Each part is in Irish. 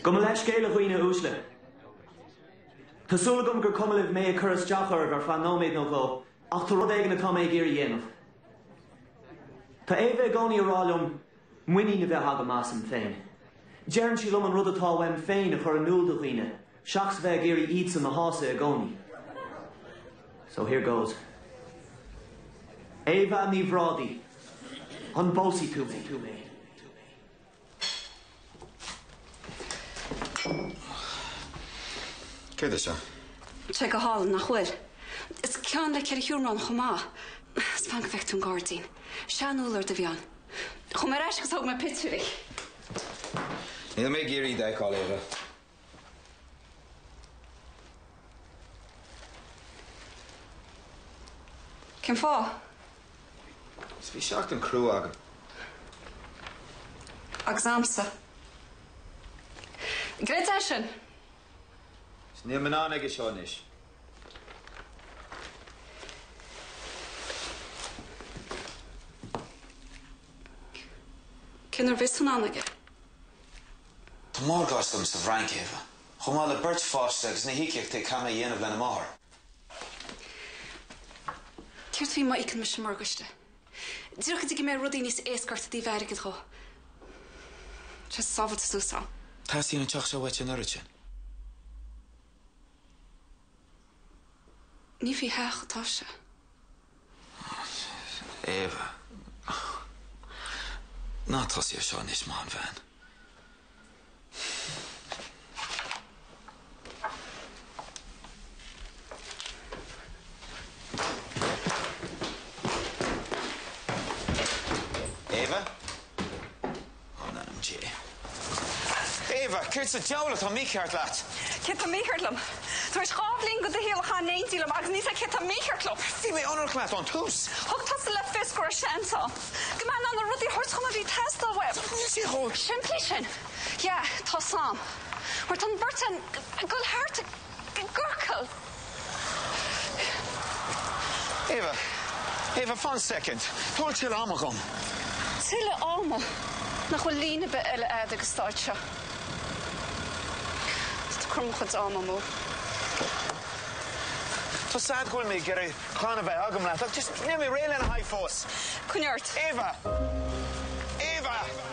Gabh mo leithscéal a dhaoine uaisle. Tá súil agam gur cuma libh mé ag cur isteach oraibh ar feadh nóiméad nó dhó, ach tá rud éigin atá mé ag iarraidh a dhéanamh. Tá Éabha i gcónaí ag rá liom muinín a bheith agam asam féin. Deireann sí liom an rud atá uaim féin a chur in iúl do dhaoine Seachas a bheith ag iarraidh iadsan a shásamh i gcónaí. So here goes. Éabha Ní Bhrádaí, an bpósfaidh tú mé? Céard é seo? Tá sé go hálainn, nach bhfuil? Is ceann le ceithre sheomra ann chomh maith. Is fan go bhfeicfidh tú an gairdín. Seanúllord a bhí ann. Chuaigh mé ar ais agus thóg mé pictiúirí. Níl mé ag iarraidh iad a fheiceáil, Éabha. Cén fáth? Is bhí seachtain crua agam. Agus a'msa. Great é sin? Is níl mé in ann aige seo anois. Cén uair a bheas tú in ann aige? Tá morgáiste agam sa bhFrainc, Éabha, chomh maith le beirt pháiste agus na híocaíochtaí a chaithfidh mé a dhéanamh lena máthair. Céard faoi má íocann mise an morgáiste? Díreach go dtí go mbeidh rudaí níos éasca ort ó thaobh airgid dhó. Tá sé sábháilte suas a'm. Teastaíonn an teach seo uait an oiread sin? Ní faoi theach atá sé. Éabha. Ná tosaigh air seo anois, maith an bhean. Éabha? Éabha, céard sa diabhal atá mícheart leat? Céard atá mícheart liom? Tar éis dhá bhliain de do shaol a chaitheamh in éindí liom agus níl a fhios a'd céard atá mícheart liom! Bhí mé ionraic leat ón tús! Thug tusa le fios go raibh seans ann go mbeifeá in ann na rudaí a thabhairt dhom a bhí ag teastáil uaim. Níl sé chomh simplí sin! Yeah, tá a fhios a'm. Mar tá an bheirt againn ag goil thart ag. Éabha, Éabha, fan soicind. Tabhair tuilleadh ama dhom. Tuilleadh ama? Nach bhfuil líne ar bith eile a'd ag an stáitse seo? Ag cur mo chuid ama amú. Tá a fhios a'd go bhfuil mé ag iarraidh clann a bheith agam leat, ach just níl mé réidh lena haghaidh fós. Coinnigh ort. Éabha!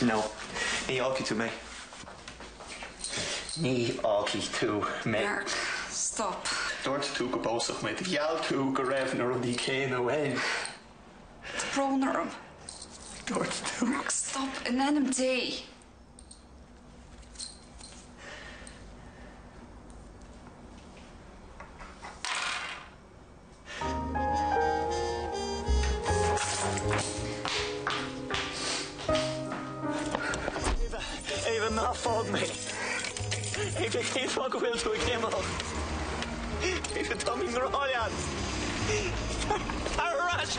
No, ní fhágfaidh tú mé. Ní fhágfaidh tú mé. Mark, stop. Dúirt tú go bpósfadh muid. Gheall tú go raibh na rudaí céanna uainn. Tá brón orm. Dúirt tú. Mark, stop, in ainm Dé! Éabha, ná fág mé! Éabha, cén fáth go bhfuil tú ag imeacht? Éabha, tá mé i ngrá leat! Tar ar ais!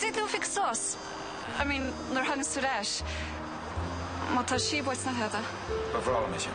Did tú fix sos? I mean nuair thánas tú ar ais? Má tá síob uait nach fhada? Ba bhreá liom é sin.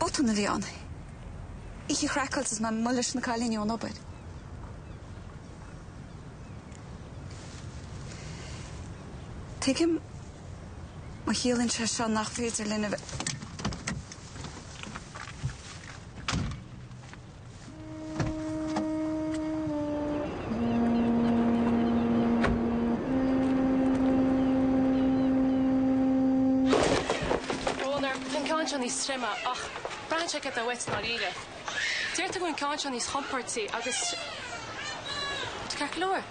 Botún a bhí ann. Oíche chraiceáilte is mé leis na cailíní ón obair. Tuigim má chiallaíonn sé seo nach féidir linn a bheith. Tá an ceann seo níos troime ach braitheann sé céard atá uait i ndáiríre. Deirtear go bhfuil an ceann seo níos compordaí agus. Tá ceart go leor.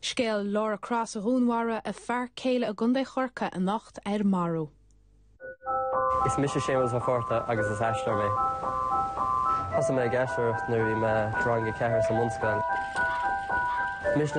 Scéal Laura Cross a dhúnmharaigh a fear céile i gContae Chorcaí anocht ar Marú. Is mise Séamus Mac Cárthaigh agus is aisteoir mé. Thosaigh mé ag aisteoireacht nuair a bhí mé i rang a ceathair sa mbunscoil. Mise.